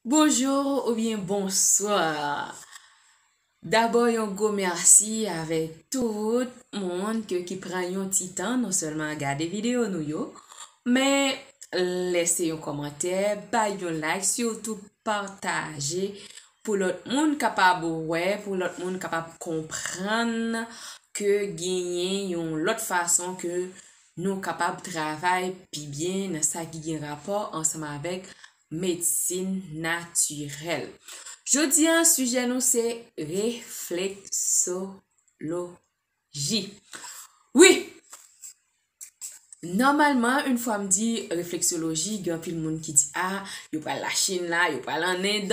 Bonjour ou byen bonsoir Dabò yon gwo mèsi avèk tout moun ke ki pran yon ti tan non sèlman a gade videyo nou yo, men lèse yon kòmantè, bay yon like, sitou pataje pou lòt moun kapab wè, pou lòt moun kapab konprann ke genyen yon lòt fason ke nou kapab travay pi byen nan sa ki gen rapò ansanm avèk medsin natirèl. Jodi an, sijè nou se refleksoloji. Wi, nòmalman, yn fwa m di refleksoloji, gen anpil moun ki di a, yo pral Lachin la, yo pral an End,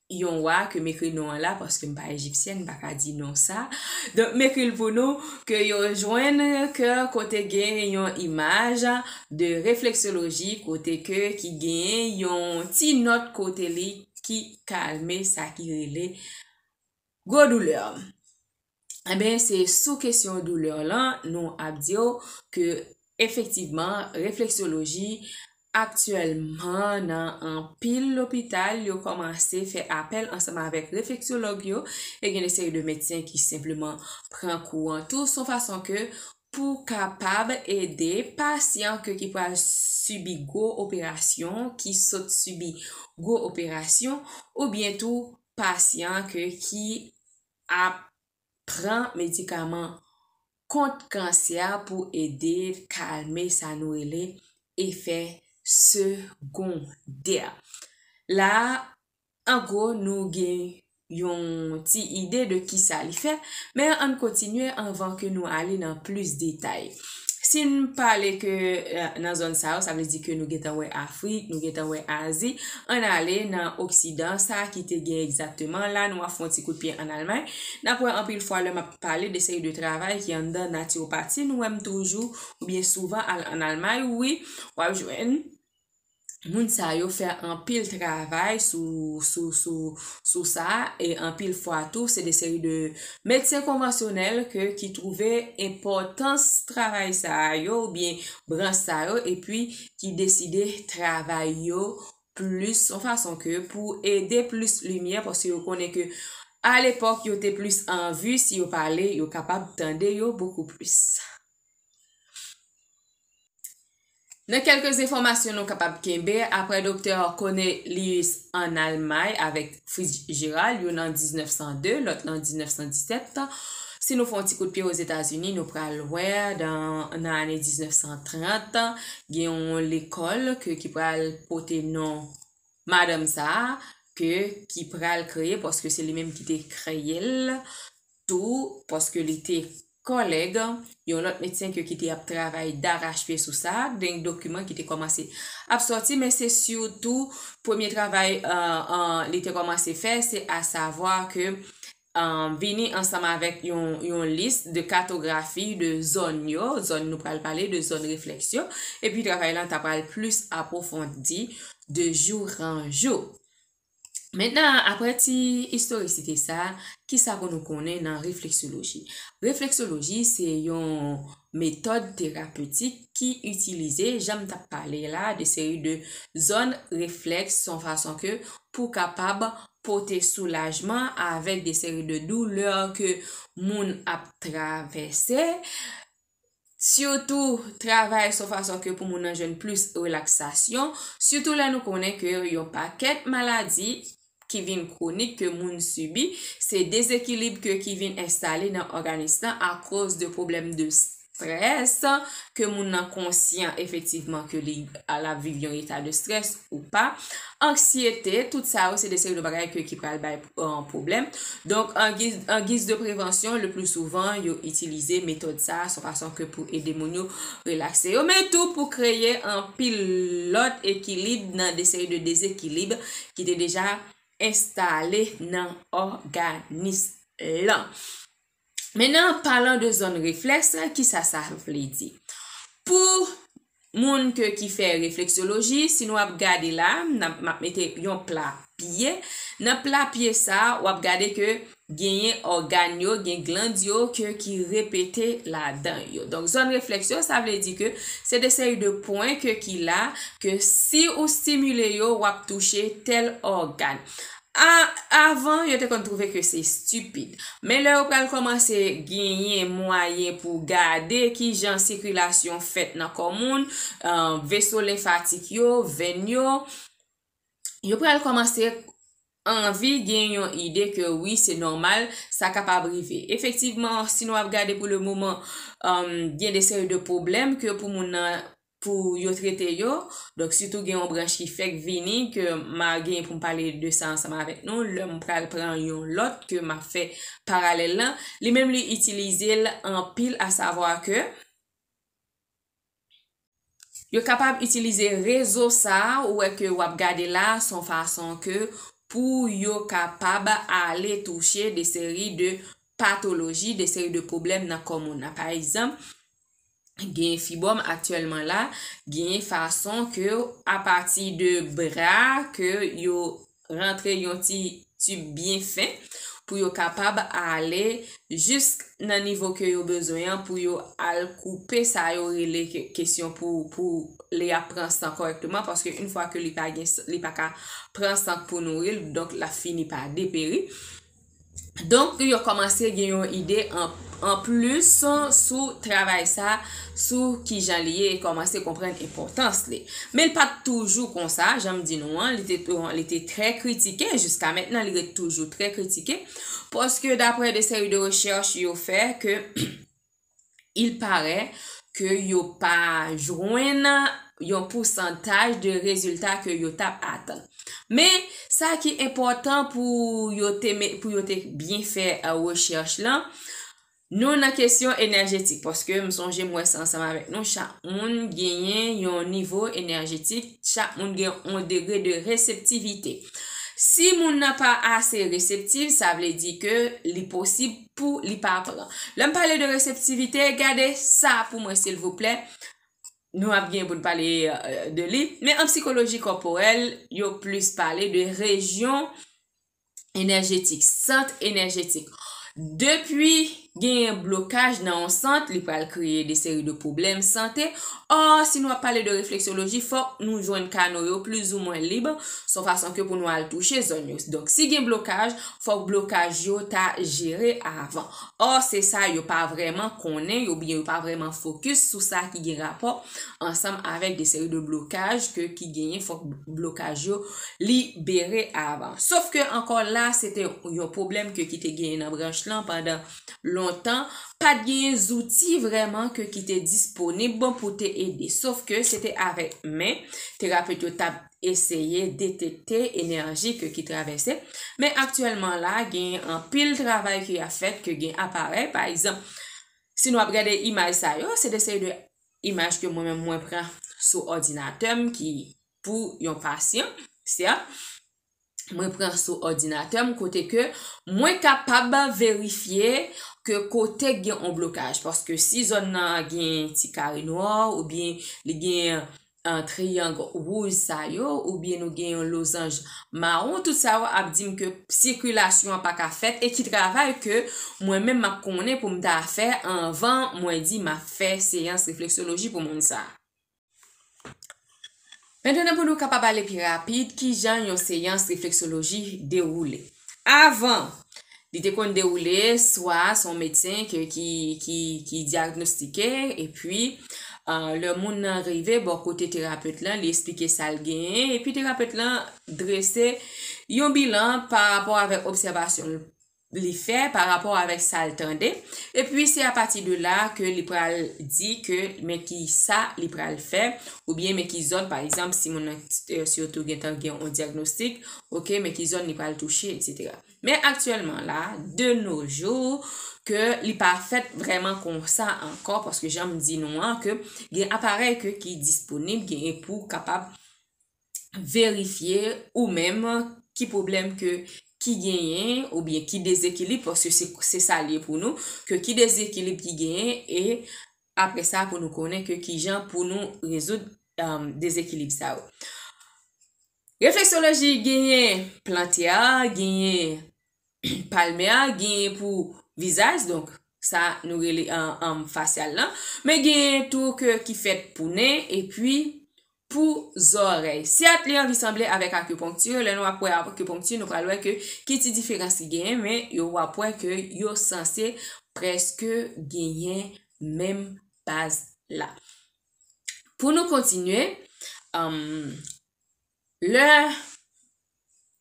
yon wa ke m ekri non an la paske m pa ejipsyèn m pa ka di non sa donk m ekri l pou nou ke yo jwenn ke kote gen yon imaj de refleksoloji kote ke ki gen yon ti nòt kote li ki kalme sa ki rele gwo doulè Eben, se sou kesyon doulè lan nou ap di yo ke efektivman refleksyoloji aktyèlman nan anpil lopital yo kòmanse fè apèl ansanm avèk refleksyològ yo e gen de seri de medsen ki senpleman pran kou an tou son fason ke pou kapab ede pasyan ke ki pral sibi gwo operasyon, ki sot sibi gwo operasyon oubyen tou pasyan ke ki ap pran medikaman kont kansè a pou ede kalme sa nou rele efè segondè. La, an gwo, nou gen yon ti ide de kisa li fè, men ann kontinye anvan ke nou ale nan plis detay. si n pale ke nan zòn sa yo, sa vle di ke nou gentan wè Afrik, nou gentan wè Azi, an ale nan Oksidan sa ki te gen egzakteman la, nou a fon ti kout pye an Almay, n ap wè anpil fwa lè m ap pale de seri de travay ki anndan Natyopati, nou wè m toujou, oubyen souvan al an Almay, wi, w ap jwenn. moun sa yo fè anpil travay sou sa e anpil fwa tou se de seri de medsen konvansyonèl ke ki twouve enpòtans travay sa yo ou byen branch sa yo e pi ki deside travay yo plis yon fason ke pou ede plis limyè paske yo konnen ke a lepòk yo te plis an vi si yo pale yo kapab tande yo bokou plis. Nan kèlke enfòmasyon nou kapab kenbe, aprè Doktè Cornelius ann Almay avèk Fritz Gerald, youn an 1902, lòt lan 1917, si nou fè yon ti kout pye Ozetazini, nou pral wè nan ane 1930, gen yon lekòl ke ki pral pote non madanm sa a, ke ki pral kreye, paske se li menm ki te kreye l, tou paske li te kòlèg yon lòt medsen ke ki te ap travay darachpye sou sa, gen dokiman ki te kòmanse ap sòti men se sitou premye travay li te kòmanse fè se asavwa ke vini ansanm avèk yon lis de katografi de zòn yo, zòn nou pral pale de zòn reflèks yo, epi travay lan ta pral plis apwofondi de jou an jou. Mentnan, apre ti istorisite sa, ki sa pou nou konnen nan refleksoloji? Refleksoloji se yon metòd terapetik ki itilize, jan m t ap pale la, de seri de zòn reflèks son fason ke pou kapab pote soulajman avèk de seri de doulè ke moun ap travèse. Sitou travay son fason ke pou moun nan jwenn plis relaksasyon, sitou lè nou konnen ke yon pakèt maladi ki vin kwonik ke moun sibi, se dezekilib ke ki vin enstale nan òganis lan akoz de pwoblèm de strès ke moun nan konsyan efektivman ke li ap viv yon eta de strès ou pa, anksyete, tout sa yo se de seri de bagay ke ki pral bay. pwoblèm. Donk, an giz de prevansyon, le pli souvan, yo itilize metòd sa a, son fason ke pou ede moun yo relakse yo, men tou pou kreye anpil lòt ekilib nan de seri de dezekilib ki te deja enstale nan òganis lan. Mennen an palan de zòn reflèks la ki sa sa vle di. Pou moun ke ki fè refleksyoloji si nou ap gade la m ap mete yon pla pye nan pla pye sa w ap gade ke genyen ògàn yo gen gland yo ke ki repete ladan yo. Donk zòn reflèks yo sa vle di ke se de seri de pwen ke ki la ke si ou stimile yo w ap touche tèl ògàn. A Avan, yo te konn twouve ke se stipid. Men lè yo pral kòmanse genyen mwayen pou gade ki jan sikilasyon fèt nan kò moun, veso lenfatik yo, venn yo, yo pral kòmanse anvi gen yon ide ke wi se nòmal, sa kapab rive. Efektivman, si nou ap gade pou le moman, gen de seri de pwoblèm ke pou moun nan pou yo trete yo, donk sitou gen yon branch ki fèk vini ke ma gen pou m pale de sa ansanm avèk nou lè m pral pran yon lòt ke ma fè paralèl lan, li menm li itilize l anpil a savwa ke. Yo kapab itilize rezo sa a ou wè ke w ap gade la a s on fason ke pou yo kapab ale touche de seri de patoloji, de seri de pwoblèm nan kò moun nan pa egzanp, genyen fibwòm aktyèlman la, genyen fason ke apati de bra ke yo rantre yon ti tib byen fen pou yo kapab ale jisk nan nivo ke yo bezwen an pou yo al koupe sa yo rele kesyon pou li ap pran san kòrèkteman paske in fwa ke li pa gen li pa ka pran san pou nouri l donk l ap fini pa deperi. Donk yo kòmanse gen yon ide an plis sou travay sa, sou ki jan li ye, yo kòmanse konprann enpòtans li. Men li pat toujou konsa, jan m di nou an, li te trè kritike, jiska mentnan li ret toujou trè kritike, paske daprè de seri de rechèch yo fè ke, il parè ke yo pa jwenn yon pousantaj de rezilta ke yo tap atann. Men, sa ki enpòtan pou yo te met, pou yo te byen fè rechèch lan, nou nan kesyon enèjetik, paske m sonje m wè sa ansanm avèk nou, chak moun genyen yon nivo enèjetik, chak moun gen yon degre de reseptivite. Si moun nan pa ase reseptiv, sa vle di ke li posib pou li pa pran. Lè m pale de reseptivite, gade sa pou mwen silvouplè. Nou ap gen pou n pale euh, de li. Men an psikoloji kòporèl, yo plis pale de rejyon enèjetik, sant enèjetik. Depi genyen blokaj nan yon sant, li pral kreye de seri de pwoblèm sante. Or, si nou ap pale de refleksyoloji, fòk nou jwenn kano yo plizoumwen lib, son fason ke pou nou al touche zòn yo. Donk, si gen blokaj, Fòk blokaj yo ta jere avan. Or se sa yo pa vrèman konnen yo byen yo pa vrèman fokis sou sa ki gen rapò ansanm avèk de seri de blokaj ke ki genyen fòk blokaj yo libere avan. Sof ke ankò la se te yon pwoblèm ke ki te genyen nan branch lan pandan lontan pa t genyen zouti vrèman ke ki te disponib pou te ede sof ke se te avèk men terapet yo t ap eseye detekte enèji ke ki travèse, men aktyèlman la gen anpil travay ki ap fèt ke gen aparèy, pa egzanp si nou ap gade imaj sa yo, se de seri de imaj ke mwen menm mwen pran sou òdinatè m ki pou yon pasyan, sèt. mwen pran sou òdinatè m kote ke mwen kapab verifye ke kote k gen on blokaj paske si zòn nan gen ti kare nwa ou byen li gen triyang wouj sa yo ou byen nou gen yon lozanj mawon tout sa yo ap di m ke sikilasyon an pa ka fèt e ki travay ke mwen menm m ap konnen pou m ta fè anvan mwen di m ap fè seyans refleksyoloji pou moun sa. Mètnen pou nou kapab ale pi rapid ki jan yon seyans refleksoloji dewoule. Avan, li te konn dewoule swa son medsen ki diyagnostike epi lè moun nan rive bò kote terapet lan li esplike sa l genyen epi terapet lan drese yon bilan pa rapò avèk obsèvasyon l li fè pa rapò avèk sa l tande, epi se apati de la ke li pral di ke men ki sa li pral fè, oubyen men ki zòn, pa egzanp, si moun nan sitou gen tan gen yon dyagnostik, ok, men ki zòn li pral touche, eksetera. Men aktyèlman la, de no jou, ke li pa fèt vrèman kon sa ankò, paske jan m di nou an, ke gen aparèy ke ki disponib, genyen pou kapab, verifye ou menm ki pwoblèm ke ki genyen ou byen ki dezekilib paske se sa li ye pou nou ke ki dezekilib ki genyen e apre sa pou nou konnen ke ki jan pou nou rezoud dezekilib sa yo. Refleksoloji genyen plantè a, genyen palmè a, genyen pou vizaj donk sa nou rele fasyal lan men genyen tou ke ki fèt pou nen epi pou zòrèy. Sèt li anvi sanble avèk akuponkti, lè nou ap wè akuponkti nou pral wè ke ki ti diferans ki genyen men yo wap wè ke yo sanse prèske genyen menm baz la. Pou nou kontinye, lè.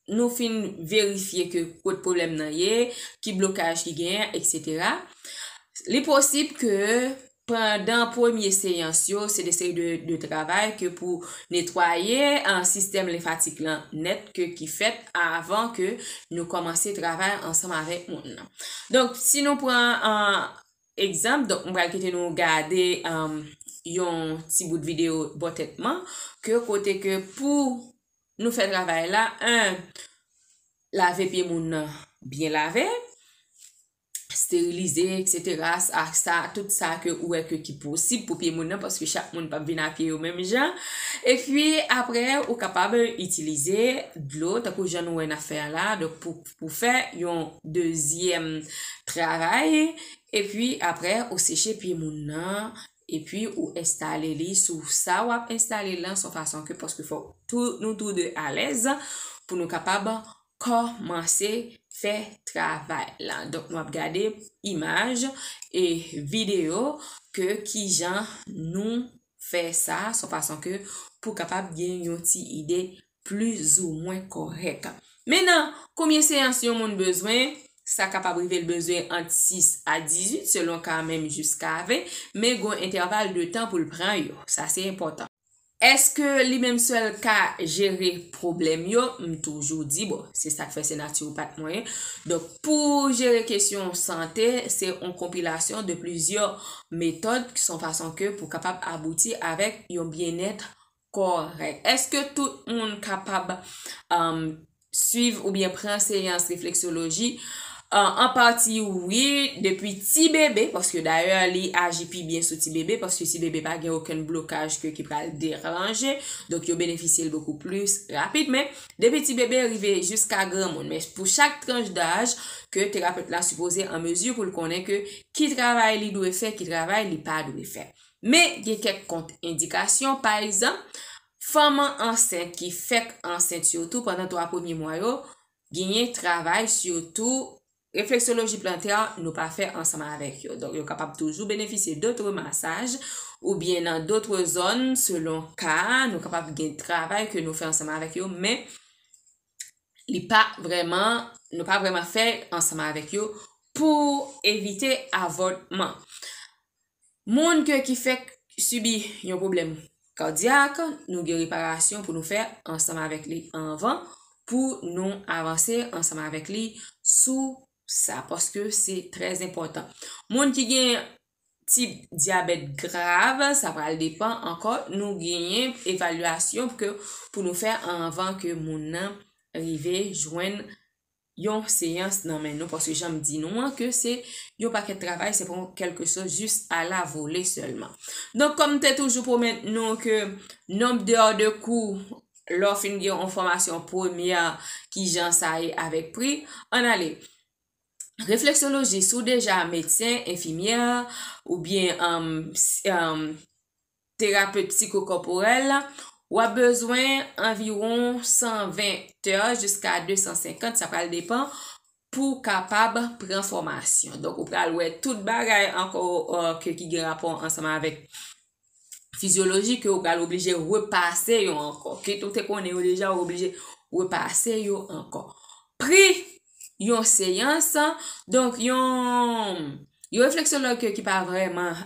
nou fin verifye ke kot pwoblèm nan ye, ki blokaj ki genyen, eksetera. Li posib ke pandan premye seyans yo, se de seri de de travay ke pou netwaye an sistèm lenfatik lan nèt ke ki fèt avan ke nou kòmanse travay ansanm avèk moun nan. Donk, si nou pran an egzanp, donk m pral kite nou gade yon ti bout videyo bò tèt man ke kote ke pou Nou fè travay la 1. Lave pye moun nan byen lave, sterilize etc ak sa tout sa ke ou wè ke ki posib pou pye moun nan paske chak moun pap vin a pye yo menm jan epi apre ou kapab itilize dlo tankou jan nou wè nap fè a la donk pou fè yon dezyèm travay epi apre ou seche pye moun nan Epi ou enstale li sou sa wap enstale lan son fason ke paske fok tou nou tou 2 alèz pou nou kapab kòmanse fè travay la. Donk nou ap gade imaj e video ke kijan nou fè sa son fason ke pou kapab gen yon ti ide plizoumwen kòrèk. Men nan konbyen seyans yon moun bezwen, sa kapab rive l bezwen ant 6 a 18 selon ka a menm jiska 20, men gon entèval de tan pou l pran yo. Sa se enpòtan. Eske li menm sèl ka jere pwoblèm yo? M toujou di, bon, se sak fè se natiwopat mwen ye, donk pou jere kesyon sante, se on konpilasyon de plizyè metòd ki son fason ke pou kapab abouti avèk yon byennèt Kòrèk. Èske tout moun kapab swiv oubyen pran seyans refleksyoloji? An pati wi, depi ti bebe, paske dayè li aji pi byen sou ti bebe, paske ti bebe pa gen okenn blokaj ke ki pral deranje, donk yo benefisye l bokou plis rapid. Men, depi ti bebe rive jiska granmoun. Men, pou chak tranch daj, ke terapet la sipoze an mezi pou l konnen ke ki travay li dwe fè, ki travay li pa dwe fè. Men, gen kèk kont endikasyon, pa egzanp, fanman ansent ki fèk ansent sitou pandan 3 premye mwa yo, genyen travay sitou refleksoloji plantè nou pa fè ansanm avèk yo. Donk yo kapab toujou benefisye dotre masaj oubyen nan dotre zòn selon ka a, nou kapab gen travay ke nou fè ansanm avèk yo men li pa vrèman, nou pa vrèman fè ansanm avèk yo pou evite avòtman. Moun ke ki fèk sibi yon pwoblèm kadyak, nou gen reparasyon pou nou fè ansanm avèk li anvan pou nou avanse ansanm avèk li sou sa paske se trè enpòtan. Moun ki gen tip dyabèt grav, sa pral depan ankò, nou genyen evalyasyon ke pou nou fè anvan ke moun nan rive jwenn yon seyans nan men nou paske janm di nou an ke se yon pakèt travay se pa yon kèlke chose jis a la vole sèlman donk kòm m te toujou pwomèt nou ke nonb de or de kou lè w fin gen yon fòmasyon premyè kijan sa ye avèk pri ann ale refleksyoloji si w deja medsen enfimyè oubyen terape psikokòporèl, w ap bezwen anviwon 120 tè jiska 250, sa pral depan, pou w kapab pran fòmasyon. Donk, ou pral wè tout bagay ankò ke ki gen rapò ansanm avèk fizyoloji ke ou pral oblije repase yo ankò. Kit ou te konnen yo deja ou oblije repase yo ankò. Pri yon seyans, donk yon yon refleksològ ke ki pa vrèman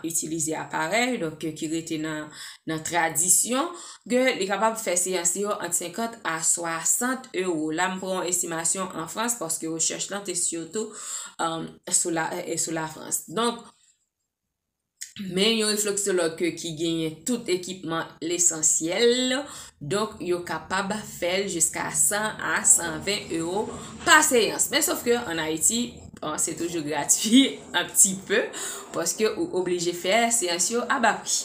itilize aparèy, donk ke ki rete nan tradisyon, ke li kapab fè seyans li yo ant 50 a 60 ewo. La m pran yon estimasyon an Frans, paske rechèch lan te sitou sou la Frans. Donk, Men yon refleksològ ki genyen tout ekipman lesansyèl, donk yo kapab fè l jiska 100 a 120 ewo pa seyans. Men sof ke an Ayiti, se toujou gratui an pti pe, paske ou oblije fè seyans yo a ba pri.